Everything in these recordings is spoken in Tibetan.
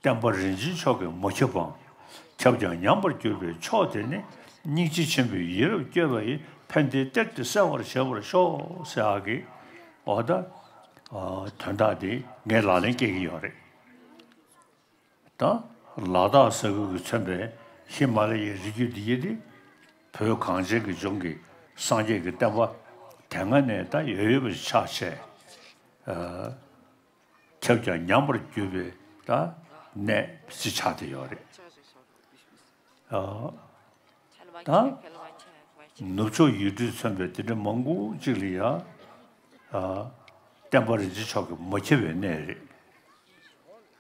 བསྟན་པ་རིན་ཆེན་མཆོག་གི་མོ་ཁྱབ་བམ། ཁྱབ་ཀྱང་ཉམས་པར་གྱུར་པའི་མཆོག་དེ་ནི། སྙིང་རྗེ་ཆེན་པོའི་ཡིད་རབ་བསྐྱོད་པ་ཡི། ཕན་བདེའི་གཏེར་དེ་གསལ་བར་བྱེད་པར་ཤོག། སེ་ཨ་ཀི། འོ་ད། དོན་དག་འདི་ངས་ལག་ལེན་སྐྱེལ་གྱི་ཡོད་རེད། དང། ལ་དྭགས་ས་ཁུལ་གྱིས་མཚོན་པའི་ཧི་མ་ལ་ཡའི་རི་རྒྱུད་འདི་ཉིད་ནི། བོད་གངས་ཅན་གྱི་ལྗོངས་ཀྱི་སངས་རྒྱས་ཀྱི་བསྟན་པ་དེ་སྔ་ནས་ད་ཡོད་ཡོད་པ་ཞིག་ཆགས་ཆེ། ཁྱབ་ཀྱང་ཉམས་པར་གྱུར་པའི་ད་གནས་ཅིག་ཆགས་བསྡད་ཡོད་རེད། དང། ནུབ་ཕྱོགས་ཡུལ་གྲུས་མཚོན་པའི་འདི་འདྲ་མང་པོ་ཅིག་ལ་ཡང། བསྟན་པ་རིན་ཆེན་མཆོག་གིས་མ་འཁྱེར་བའི་གནས་རེད།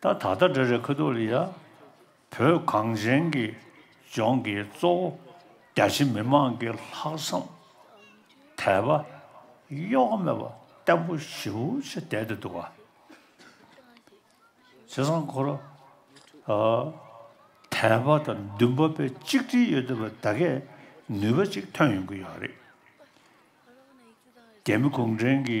ད་ད་ལྟ་འདྲ་རེ་ཁ་ཐུག་ལ་ཡ། བོད་གངས་ཅན་གྱི་ལྗོངས་ཀྱི་གཙོ་བོ་རྒྱ་ཆེ་མི་མང་གི་ལྷག་བསམ་དད་པ་གཡོ་ག་མེད་པ་བརྟན་པོ་ཞིའུ་ཆེ་བསྡད་དེ་འདུག་ག་བྱས་ཙང་ཁོ་ར་དད་པ་དང་འདུན་པ་པའི་གཅིག་སྒྲིལ་ཡོད་དེ་བས་ད་གས་ནུས་པ་ཅིག་ཐོན་ཡོང་གི་ཡོད་རེད་རྒྱ་མི་གུང་ཁྲན་གྱི་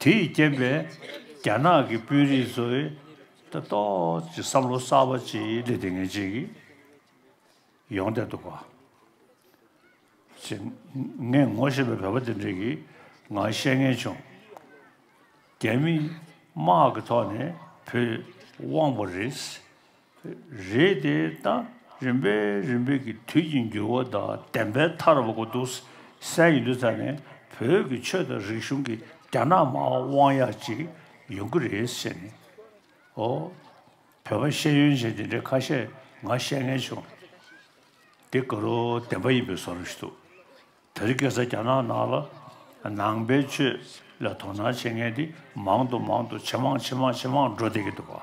དེ་ཡི་རྐྱེན་པས་རྒྱ་ནག་གི་དཔོན་རིགས་ཚོས་ལྟ་རྟོག་ཀྱི་བསམ་བློ་གསར་པ་ཅིག་སླེབས་ཏེ་ངེས་ཅན་གྱི་ཡོང་བསྡད་འདུག་ག་ཅེས་ངས་ངོ་ཤེས་པའི་བོད་པ་དེ་འདྲས་ཀྱི་ངང་བཤད་ངེས་བྱུང། རྒྱ་མི་དམག་གི་ཐོག་ནས་བུད་དབང་པོ་རེད། རེད་དེ་ད་རིམ་པས་རིམ་པས་ཀྱི་དུས་ཀྱི་འགྱུར་བ་དང་བདེན་པའི་མཐར་བབ་གོ་འདུག་སའི་ཡུལ་དུ་ད་ནི་བོད་ཀྱི་ཆོས་དང་རིག་གཞུང་གི་རྒྱ་ནག་མ་དབང་ཡག་ཅིག་ཡོང་གི་རེད་ཟེར་ནས་ཨོ། བོད་པ་ཤེས་ཡོན་ཅན་དེ་འདྲའི་ཁ་ཤས་ང་བཤད་ངན་བྱུང། འདི་དགའ་རོ་བདེན་པ་ཡིན་པའི་བཟོ་རུ་ཞུ་འདུག་ད་རི་གེ་སར་རྒྱ་ནག་ནང་ལ་ནང་པའི་ཆོས་ལ་དོ་སྣང་བྱེད་མཁན་དེ་མང་དུ་མང་དུ་ཇེ་མང་ཇེ་མང་ཇེ་མང་འགྲོ་བསྡད་ཀྱི་འདུག་བ།